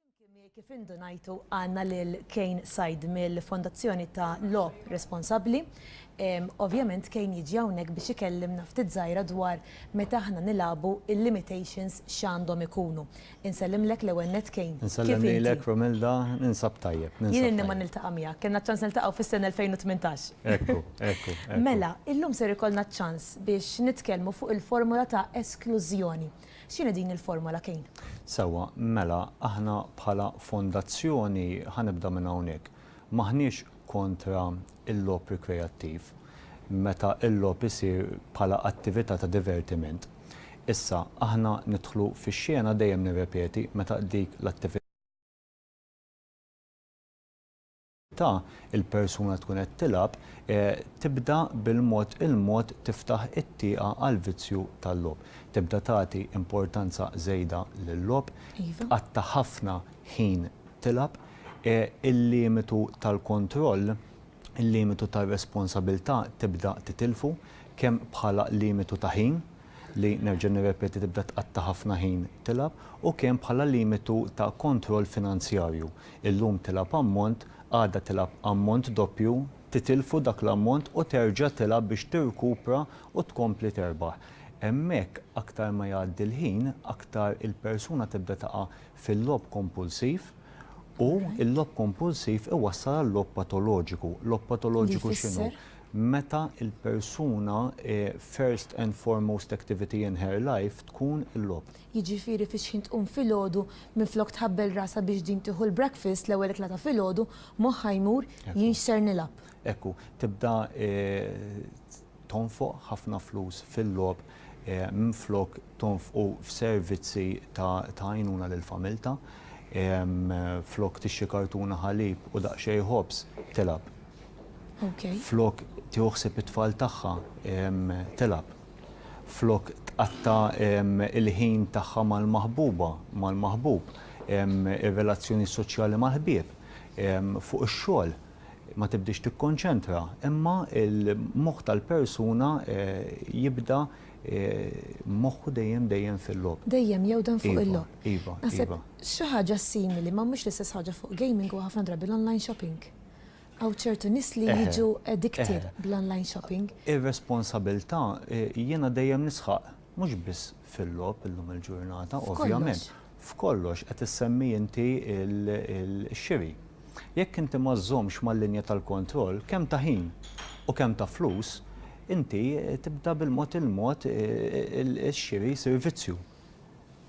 Flimkien miegħi kif indunajtu għandna lil Kane Said mill-Fondazzjoni ta' Logħob Responsabbli. Ovvjament Kane jiġi hawnhekk biex ikellimna ftit żgħira dwar meta aħna nilagħbu il-limitations x'għandhom ikunu. Insellimlek l-ewwel nett Kane. Kif inti? Insellem lilek Romilda, ninsab tajjeb. Jien ilni ma niltaqa' miegħek, kellna ċ-ċans niltaqgħu fis-sena 2018. Ekku, ekku, ekku. Mela, illum ser ikollna ċ-ċans biex nitkellmu fuq il-formola ta' esklużjoni. X'inhi din il-formola, Kane? Sewwa, mela aħna bħala fondazzjoni, ħa nibda minn hawnhekk, m'aħniex kontra l-logħob rikreattiv meta l-logħob isir bħala attività ta' divertiment. Issa, aħna nidħlu fix-xena, dejjem nirrepeti, meta dik l-attività, ta' il-persuna tkun qed tilgħab tibda bil-mod il-mod tiftaħ it-tieqa għall-vizzju tal-logħob. Tibda tagħti importanza żejda lil-logħob, tqatta' ħafna ħin tilgħab, il-limitu tal-kontroll, il-limitu tar-responsabilità tibda titilfu kemm bħala limitu ta' ħin li nerġa' nirrepeti tibda tqatta' ħafna ħin tilgħab, u kemm bħala limitu ta' kontroll finanzjarju. Illum tilgħab ammont, għada tilgħab ammont doppju, titilfu dak l-ammont u terġa' tilgħab biex tirkupra u tkompli terbaħ. Hemmhekk aktar ma jgħaddi l-ħin, aktar il-persuna tibda taqa' fil-logħob kompulsiv u l-logħob kompulsiv iwassal għal logħob patoloġiku. Logħob patoloġiku x'inhu? meta l-persuna first and foremost activity in her life tkun il-logħob. Jiġifieri fix-xħin tqum filgħodu minflok tħabbel rasha biex din tieħu l-breakfast, l-ewwel ikla ta' filgħodu, moħħha jmur, jien x'ser nilgħab. Ekku, tibda tonfoq ħafna flus fil-logħob minflok tonfqu f'servizzi ta' għajnuna lil familtha. Flok tixtri kartuna ħalib u daqsxejn ħobż, tilgħab. Flok tieħu ħsieb it-tfal tagħha, tilgħab. Flok tqatta' l-ħin tagħha mal-maħbuba, mal-maħbub, ir-relazzjoni soċjali mal-ħbieb, fuq ix-xogħol, ma tibdiex tikkonċentra, imma l-moħħ tal-persuna jibda moħħu dejjem dejjem fil-logħob. Dejjem jewden fuq il-logħob. Iva, iva, iva. Naħseb xi ħaġa simili, ma mhux l-istess ħaġa fuq gaming huwa ħafna drabi l-online shopping. Hawn ċertu nies li jiġu addicted bl-online shopping. Ir-responsabilità jiena dejjem nisħaq mhux biss fil-logħob illum il-ġurnata ovvjament. F'kollox qed issemmi inti l-xiri. Jekk inti ma żżommx mal-linja tal-kontroll kemm ta' ħin u kemm ta' flus, inti tibda bil-mod il-mod ix-xiri jsir vizzju.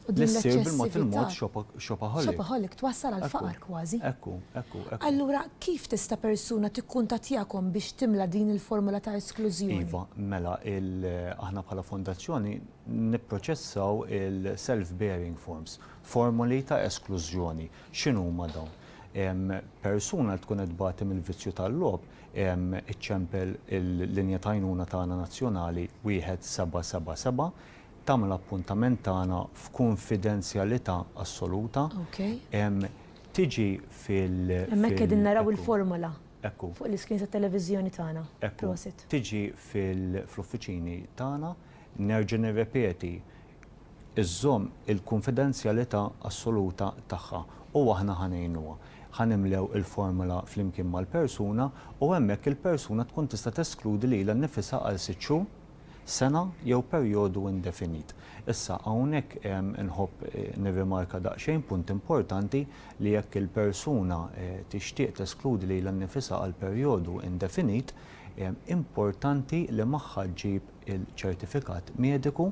U din l-eċċessività. Shopaholic. Shopaholic twassal għal faqar kważi. Ekku, ekku, ekku. Allura kif tista' persuna tikkuntattjakom biex timla din il-formola ta' esklużjoni? Iva, mela aħna bħala fondazzjoni nipproċessaw il-self bearing forms, formoli ta' esklużjoni. X'inhuma dawn? Persuna li tkun qed tbati mill-vizzju tal-logħob iċċempel il-linja ta' għajnuna tagħna nazzjonali wieħed seba' seba' seba' tagħmel appuntament tagħna f'kunfidenzjalità assoluta, tiġi fil-. Hemmhekk qegħdin naraw il-formola fuq l-iscreens tat-televiżjoni tagħna. Prosit. Tiġi fl-uffiċini tagħna, nerġa' nirrepeti, iżżomm il-kunfidenzjalità assoluta tagħha u aħna ħa ngħinuha. Ħa nimlew il-formola flimkien mal-persuna u hemmhekk il-persuna tkun tista' teskludi lilha nnifisha għal sitt xhur. sena jew perjodu indefinit. Issa, hawnhekk inħobb nirrimarka daqsxejn punt importanti li jekk il-persuna tixtieq teskludi lilha nnifisha għal perjodu indefinit, importanti li magħha ġġib il-ċertifikat mediku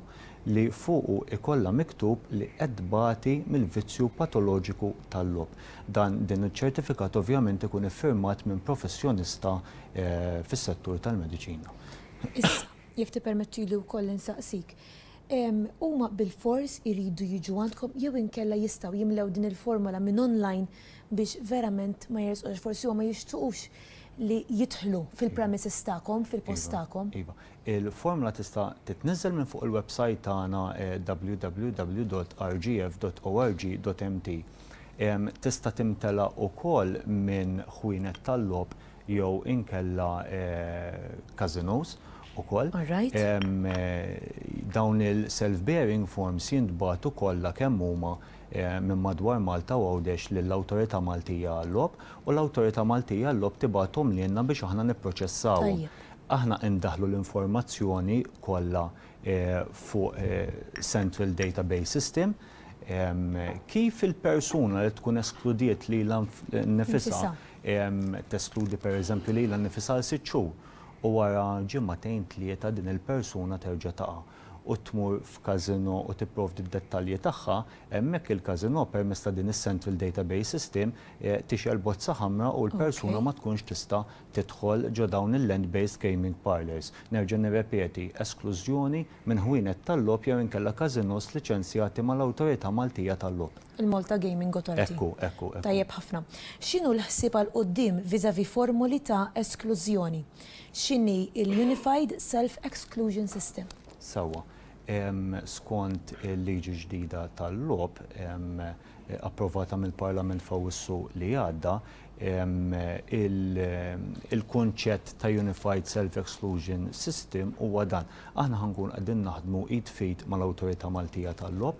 li fuqu jkollha miktub li qed tbati mill-vizzju patoloġiku tal-logħob. Dan din iċ-ċertifikat ovvjament ikun iffirmat minn professjonista fis-settur tal-mediċina. Issa, jekk tippermettili wkoll insaqsik, huma bilfors iridu jiġu għandkom jew inkella jistgħu jimlew din il-formola minn online biex verament ma jersqux għax forsi huma jixtuqux li jidħlu fil-premises tagħkom, fil-post tagħkom? Iva. Il-formola tista' titniżżel minn fuq il-websajt tagħna www.rgf.org.mt. Tista' timtela wkoll minn ħwienet tal-logħob jew inkella każinòs ukoll. Dawn il-self bearing forms jintbagħtu kollha kemm huma minn madwar Malta u Għawdex lill-Awtorità Maltija għal-Logħob u l-Awtorità Maltija għal-Logħob tibgħathom lilna biex aħna nipproċessawhom. Aħna indaħħlu l-informazzjoni kollha fuq central database system kif il-persuna li tkun eskludiet lilha nnifisha teskludi pereżempju lilha nnifisha għal sitt xhur u wara ġimagħtejn tlieta din il-persuna terġa' taqa' u tmur f'casino u tipprovdi d-dettalji tagħha, hemmhekk il-casino permezz ta' din is-central database system tixgħel bozza ħamra u l-persuna ma tkunx tista' tidħol ġo dawn il-land based gaming parlours. Nerġa' nirrepeti, esklużjoni minn ħwienet tal-logħob jew inkella casinos liċenzjati mal-Awtorità Maltija tal-Logħob. Il-Malta Gaming Authority. Ekku, ekku, ekku. Tajjeb ħafna. X'inhu l-ħsieb għal quddiem vis-à-vis formoli ta' esklużjoni? X'inhi l-Unified Self-Exclusion System? Sewwa. Skont il-liġi ġdida tal-logħob approvata mill-Parlament f'Awwissu li għadda, il-kunċett ta' Unified Self-Exclusion System huwa dan. Aħna ħa nkunu qegħdin naħdmu id f'id mal-Awtorità Maltija tal-Logħob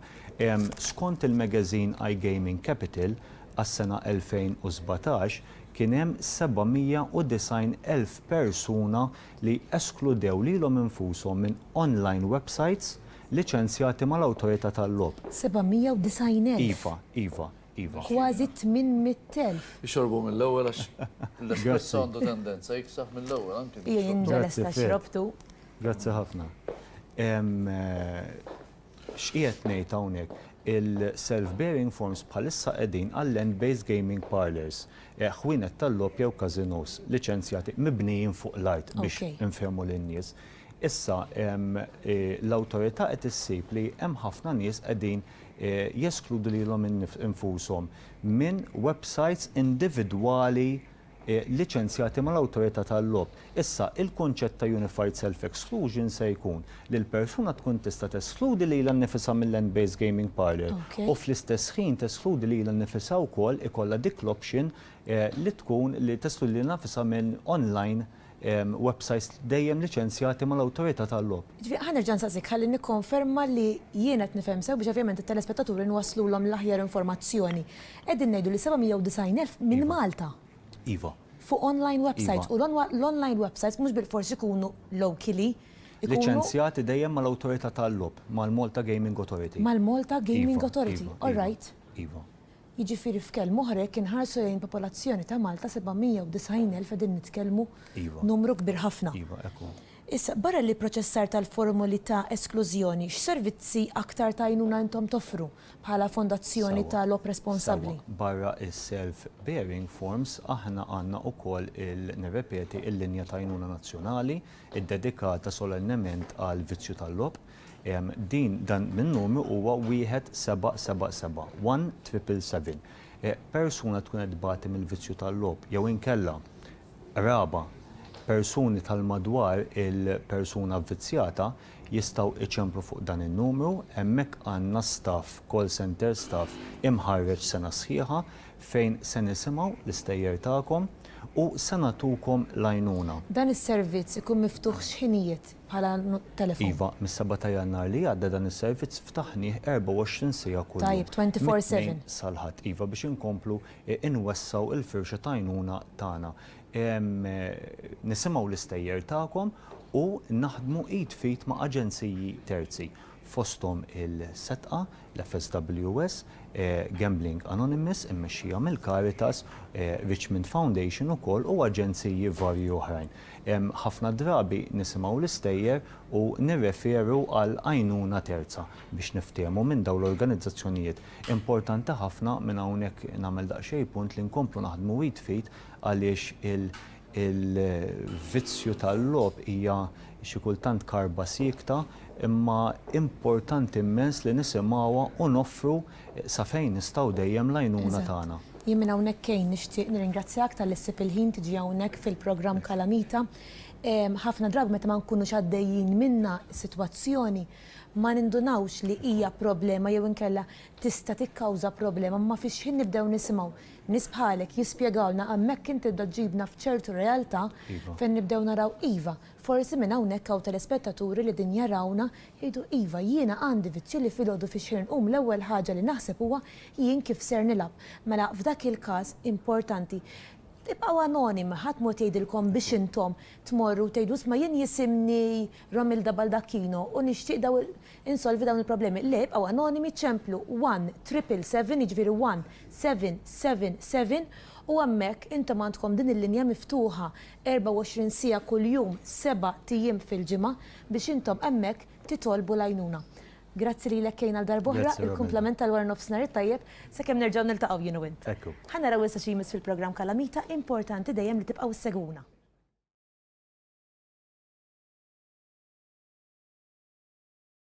Skont il-magazine iGaming Capital, għas-sena 2017 kien hemm 790 elf persuna li eskludew lilhom infushom minn online websites liċenzjati mal-Awtorità tal-Logħob. 790 elf! Iva, iva, iva. Kważi 800 elf! Ixorbu mill-ewwel għax l-espresso għandu tendenza jiksaħ mill-ewwel anki. Hija jinġa lesta xrobtu. Grazzi ħafna. X'qiegħed ngħid hawnhekk? Il-self bearing forms bħalissa qegħdin għal land based gaming parlours, ħwienet tal-logħob jew każinòs liċenzjati mibnijin fuq l-art biex infehmu lin-nies. Issa l-awtorità qed issib li hemm ħafna nies qegħdin jeskludu lilhom infushom minn websites individwali liċenzjati mal-awtorità tal-logħob. Issa, il-kunċett ta' unified self-exclusion se jkun li l-persuna tkun tista' teskludi lilha nnifisha mil-land-based gaming parlour u fl-istess ħin teskludi lilha nnifisha wkoll, ikollha dik l-option li tkun li teskludi lilha nnifisha minn online websajts dejjem liċenzjati mal-Awtorità tal-Logħob. Jiġifieri ħa nerġa' nsaqsik ħalli nikkonferma li jien qed nifhem sew biex ovvjament it-telespettaturi nwasslulhom l-aħjar informazzjoni. Qegħdin ngħidu li 790 elf minn Malta. Iva. Fuq online websajts u l-online websajts mhux bilfors ikunu locally. Liċenzjati dejjem mal-Awtorità tal-Logħob, mal-Malta Gaming Authority. Mal-Malta Gaming Authority, all right. Iva. Jiġifieri f'kelm oħra jekk inħarsu lejn il-popolazzjoni ta' Malta 790,000 qegħdin nitkellmu numru kbir ħafna. Issa, barra l-ipproċessar tal-formoli ta' esklużjoni, x'servizzi aktar ta' għajnuna intom toffru bħala Fondazzjoni ta' Logħob Responsabbli? Sewwa, barra s-self bearing forms aħna għandna wkoll il, nirrepeti, il-linja ta' għajnuna nazzjonali ddedikata solennement għall-vizzju tal-logħob. Din, dan min-numru huwa 1777, 1777. Persuna tkun qed tbati mill-vizzju tal-logħob jew inkella qraba, persuni tal-madwar il-persuna vvizzjata jistgħu iċemplu fuq dan in-numru. Hemmhekk għandna staff, call center staff, imħarreġ sena sħiħa fejn se nisimgħu l-istejjer tagħkom u se nagħtukom l-għajnuna. Dan is-servizz ikun miftuħ x'ħinijiet? bħala telefon. Iva, mis-seba' ta' Jannar li għadda dan is-servizz ftaħnih 24 siegħa kuljum. Tajjeb, 24 seven. Mit-Tnejn sal-Ħadd, iva, biex inkomplu nwessgħu l-firxa t'għajnuna tagħna. Nisimgħu l-istejjer tagħkom u naħdmu id f'id ma' aġenziji terzi. fosthom il-setqa, l-FSWS, Gambling Anonymous immexxija mill-Caritas, Richmond Foundation ukoll u aġenziji varji oħrajn. Ħafna drabi nisimgħu l-istejjer u nirreferu għal għajnuna terza biex niftehmu minn dawn l-organizzazzjonijiet. Importanti ħafna, minn hawnhekk nagħmel daqsxejn punt, li nkomplu naħdmu id f'id għaliex Il-vizzju tal-logħob hija xi kultant karba siekta imma importanti immens li nisimgħuha u noffru sa fejn nistgħu dejjem l-għajnuna tagħna. Eżatt. Jien minn hawnhekk Kane nixtieq nirringrazzjak talli ssib il-ħin tiġi hawnhekk fil-programm Kalamita. Ħafna drabi meta ma nkunux għaddejjin minnha sitwazzjoni ma nindunawx li hija problema jew inkella tista' tikkawża problema ma fix-xħin nibdew nisimgħu Nies bħalek jispjegawlna hemmhekk int tibda ġġibna f'ċertu realtà fejn nibdew naraw iva, forsi minn hawnhekk hawn telespettaturi li din jarawna jgħidu iva jiena għandi vizzju li filgħodu fix-xejn nqum l-ewwel ħaġa li naħseb huwa jien kif ser nilgħab. Mela f'dak il-każ importanti tibqgħu anonimi, ħadd mod jgħidilkom biex intom tmorru u tgħidu isma' jien jisimni Romilda Baldacchino u nixtieq dawn Insolvi dawn il-problemi. Le, ibqgħu anonimi, ċemplu one triple seven, jiġifieri one seven seven seven, u hemmhekk intom għandkom din il-linja miftuħa 24 siegħa kuljum, sebat ijiem fil-ġimgħa biex intom hemmhekk titolbu l-għajnuna. Grazzi lilek Kane għal darba oħra, il-kumplament tal-waranofsinhar it-tajjeb, sakemm nerġgħu niltaqgħu jien u int. Ħa naraw issa xi jmiss fil-programm Kalamita, importanti dejjem li tibqgħu ssegwuna.